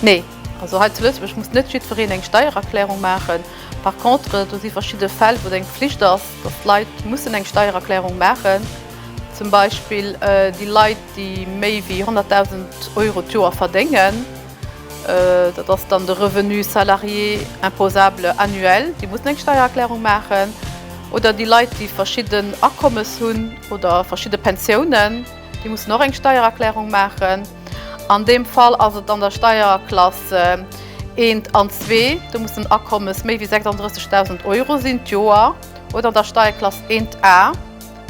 Nee, also hei zu Lëtzebuerg muss net jiddwereen eng Steiererklärung maachen. Par contre, do si verschidde Fäll, wou et eng Pflicht ass, dass d'Leit mussen eng Steiererklärung maachen. Zum Beispill déi Leit, déi méi wéi 100.000 Euro d'Joer verdéngen, dat ass dann de Revenu salarié imposable annuel, déi mussen eng Steiererklärung maachen, oder déi Leit, déi verschidden Akommes hunn oder verschidde Pensiounen, déi mussen och eng Steiererklärung maachen. An deem Fall ass et an der Steierklass 1 an 2, do muss den Akommes méi wéi 36.000 Euro sinn d'Joer, oder an der Steierklass 1 A.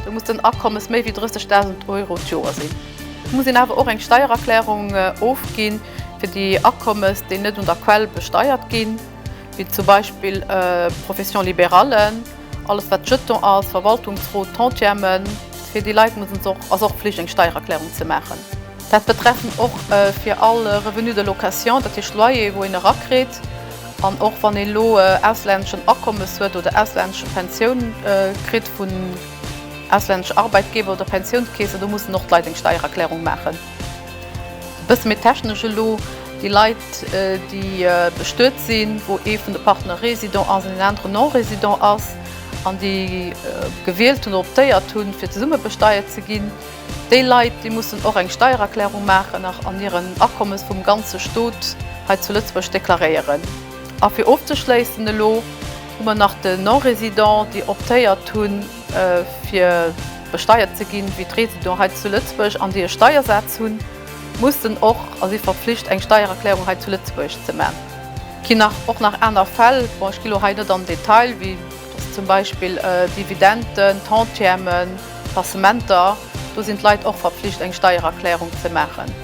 Do muss den Akommes méi wéi 30.000 Euro d'Joer sinn. Et muss een awer och eng Steiererklärung ofginn fir déi Akommes, déi net un der Quell besteiert ginn, wéi zum Beispill Professions libérallen, alles wat Jeton ass, Verwaltungsrot, Tantiemen. Fir déi Leit muss et och, ass och Pflicht eng Steiererklärung ze maachen. Dat betreffend och fir all Revenu de location, dat heescht Loyer wou een erakritt, An och wann een elo auslänneschen Akommes huet oder auslännesche Pensioun kritt vun auslännesche Arbeitgeber oder Pensiounskeessen, do mussen och d'Leit eng Steiererklärung maachen. E bësse méi technesch elo, déi Leit, déi bestuet sinn, wou ee vun de Partner résident ass an een anere non-résident ass, an déi gewielt hunn oder optéiert hunn, fir zesumme besteiert ze ginn, Déi Leit, déi mussen och eng Steiererklärung maachen an hiren Akommes vum ganze Stot hei zu Lëtzebuerg deklaréieren. A fir ofzeschléissen, elo hu mer nach de Non-résident, déi optéiert hu fir besteiert ze ginn, wéi d'Résident hei zu Lëtzebuerg, an déi e Steiersaz hunn, mussen och a si verpflicht, eng Steiererklärung hei zu Lëtzebuerg ze man. Ginn nach och nach aner Fäll, bon, ech gi lo hei net an Detail, wéi. Dass zum Beispill Dividenden, Tantiemen, Passementer, do sinn d'Leit och verpflicht eng Steiererklärung ze maachen.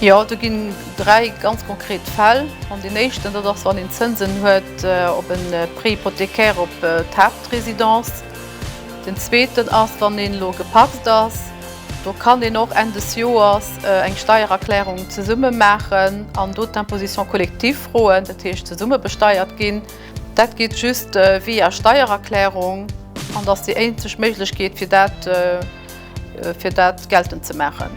Jo, do ginn dräi ganz konkret Fäll an. Deen éischten, dat ass wann een Zënsen huet op e Prêt hypothécaire op d'Haaptresidence. Den zweeten ass wann een elo gepacst ass. Do kann een och Enn des Joers eng Steiererklärung zesumme maachen an do d'Imposition collective froen, dat heescht zesumme besteiert ginn. Dat geet just via Steiererklärung an dat ass déi eenzeg Méiglechkeet fir dat fir dat geltend ze maachen.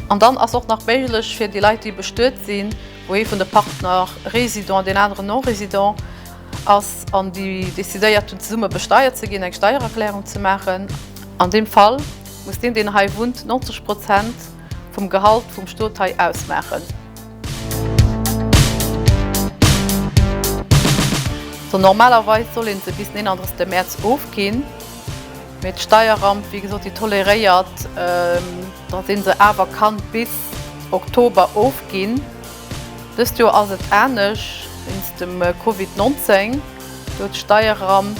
An dann ass och nach méiglech fir déi Leit déi bestuet sinn, wou ee vun de Partner résident an deen aneren non-résident ass an déi decidéiert hunn zesumme besteiert ze ginn, eng Steiererklärung ze maachen an deem Fall. Muss deen deen hei wunnt 90 Prozent vum Gehalt vum Stot hei ausmaachen? Sou normalerweis soll een se bis den 31 Mäerz ofginn, mee d'Steierramp wéi gesot déi toleréiert dass een se awer kann bis Oktober ofginn. Dëst Joer ass et anescht, wéinst dem Covid 19 gouf d'Steierramp.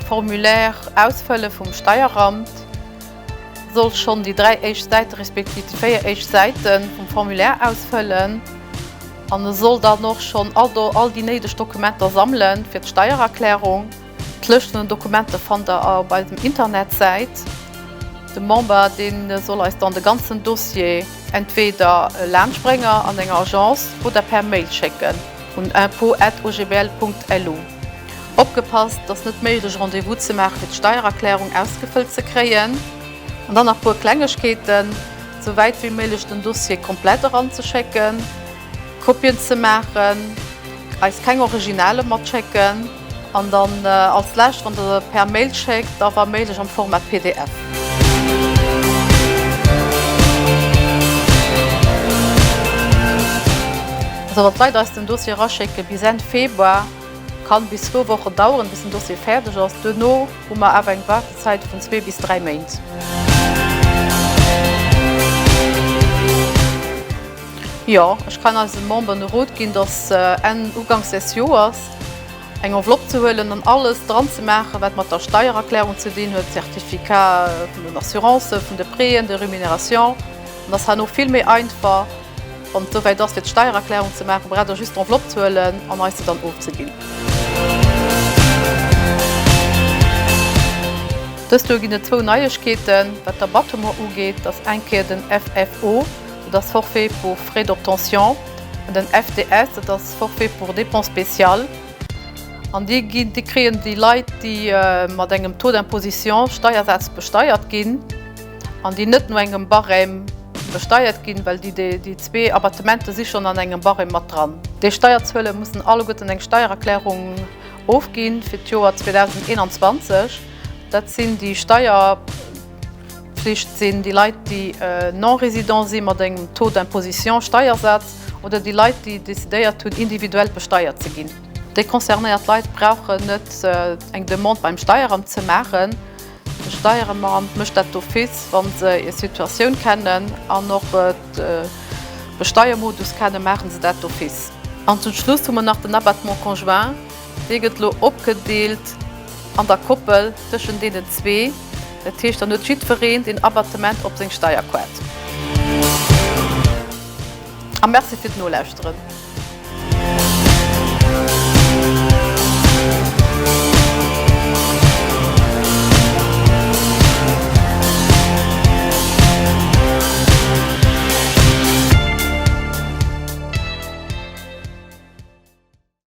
D'Formulaire ausfëlle vum Steieramt soll schonn déi dräi éischt Säite respektiv déi véier éischt Säite vum Formulaire ausfëllen an e soll dann och schonn all do all déi néideg Dokumenter sammelen fir d'Steiererklärung. D'Lëscht vun den Dokumenter fannt der op eisem Internetsäit. De Member dee soll eis dann de ganzen Dossier. Entweder e Laansprénger an enger Agence oder per Mail schécken un info@ogbl.lu. Opgepasst, et ass net méiglech Rendez-vous ze maache fir d'Steiererklärung ausgefëllt ze kréien. An dann nach puer Klengegkeeten, sou wäit wéi méiglech den Dossier komplett eranzeschécken, Kopien ze maachen, eis keng Originale matschécken. An dann als lescht, wann der se per Mail schéckt, da wa méiglech am Format pdf. Also wat d'Leit eis den Dossier eraschécke bis Enn Februar, kann bis zwou Wochen daueren, bis den Dossier fäerdeg ass. Duerno hu mer awer eng Waardezäit vun zwee bis dräi Méint. Jo, ech kann eise Memberen e Rot ginn, dass se Enn, Uganks des Joers, eng Enveloppe ze huelen an alles dran ze maachen, wat mat der Steiererklärung ze dinn huet, Certificat vun den Assurancen, vun de Préen, de Rémunérations. Dann ass herno vill méi einfach, wann et esouwäit ass, fir d'Steiererklärung ze maachen, braucht Der just d'Enveloppe ze huelen an eis se dann ofzeginn. Dëst Joer ginn et zwou Neiegkeeten, wat d'Abattement ugeet. Dat ass eng Kéier den FFO, dat ass Forfait pour frais d'obtention. Den FDS, dat ass Forfait pour dépenses spéciales, an dee ginn, dee kréien déi Leit, déi mat engem Taux d'imposition, Steiersaz, besteiert ginn an déi net no engem Barème besteiert ginn, well déi, déi zwee Abattemente si schonn an engem Barème mat dran. Déi Steierzuele mussen alleguerten eng Steiererklärung ofginn fir d'Joer 2021. Dat sinn déi Steier. Pflicht sinn déi Leit, déi non-résident si mat engem Taux d'imposition, Steiersaz, oder déi Leit, déi decidéiert hunn, individuell besteiert ze ginn. Déi concernéiert Leit brauchen net eng Demande beim Steieramt ze maachen. De Steieremant mécht dat d'office, wa se hir Situatioun kennen an och de Besteiermodus kennen, maache se dat d'office. An zum Schluss hu mer nach den Abattement conjoint. Dee gëtt elo opgedeelt an der Koppel tëschent deenen zwee. Dat heescht, dann huet jiddwereen den Abattement op seng Steierquête. A Merci fir d'Nolauschteren.